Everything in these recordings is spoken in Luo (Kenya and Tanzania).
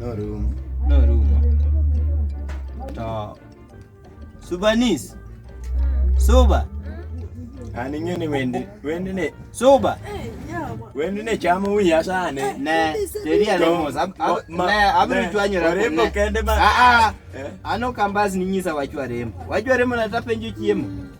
Norumo. Norumo. To Subanis. Suba. An ing'e ni wendi wendi ni Suba. wendi ni chamo wiya sani. Ne, teria Tom, lemos. Ab- ab- ma- ma- Ne, abiro ne, chwanyo remo. orembo ne. kende ma- Ah, ah. Eh? Ano kambas ninyisa wachwa remo. Wachwa remo na tapenjo chiemo.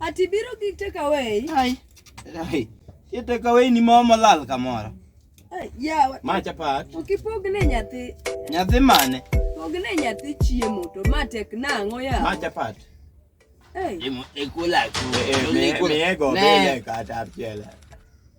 Ati biro gi take away. Ai. Ai. Ye take away ni mama lal kamoro. Ai, yawa. Ma chapat. Ukipogne nyathi. Nyathi mane? Pogne nyathi chiemo to ma tek nang'o ya. Ma chapat. Ai. Imo ekula ku. Nego bele kata piela.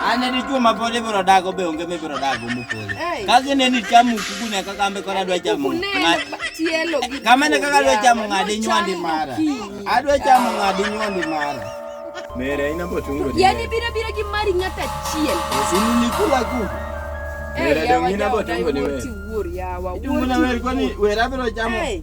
Anya dichuo ma pod ibiro dago be onge mibiro dago mopodho. Kazi ne ni chamu kugune kaka ambe kora dwa chamu. Kama ne kaka dwa chamu ng'adi nywandi mara. Adwa chamu ng'adi nywandi mara. Mere ina botungo. Yani bira bira gi mari nyata chiel. Sini ni kula ku. Mere dong ina botungo ni we. Idungo na we kwani we rabiro chamu. Hey.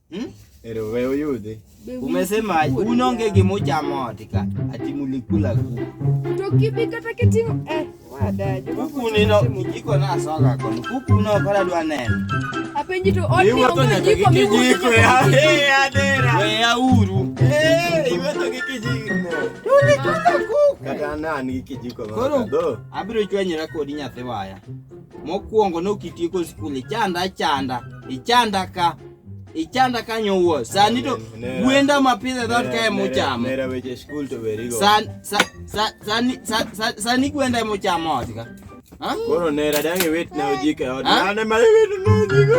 Hmm? Ero wewe uyudhi. Umesema unonge kimoja motika ati mulikula kuku. Tokipi kata kitingo eh wada. Kuku nino kijiko na soka kwa kuku no kala dwa nene. Apenji to oti ongo jiko mi kijiko ya eh adera. Wewe ya uru. Eh iwe to kijiko. Tulikula kuku. Kata nani kijiko mama. Koro abiro chwanyira kodi nyathi waya. Mokuongo nokitieko skuli chanda chanda ichanda ka ichanda kanyo wuo sani to gwenda mapidhe dhot kae muchamo sani gwenda muchamo ot ka koro nera dang' iwit ne ojik e ot mane ma iwit ne ojik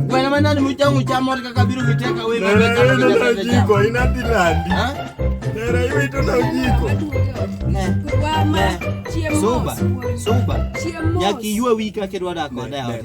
gwenda ma nani muchamo uchamo ot kaka biro giteka we jiko inadhi landi nera iwito na ojiko suba suba nyakiywe wika kidwa dak koda ot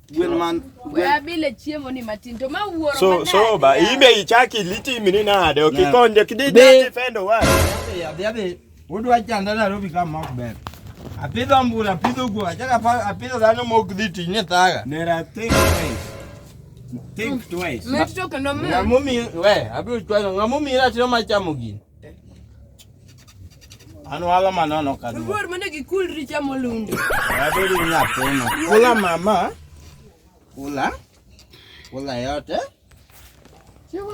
gwen man gwen abile chiemo ni matin to ma wuoro so so ba ibe ichaki litimi ni nade okikonje kidi defendo wa adhi adhi udwa chanda Nairobi kama ok ber apidho mbura apidho guo achaka apidho dhano ma ok dhi tich ni thaga nera think twice think twice ng'amomiyo we abiro chwalo ng'amomiyo ratiro machamo gini An wala manono ka dwa. Luor mane gikul richa molundo. Abedi ni apono. Kula mama. Kula. Kula yote. Chewa.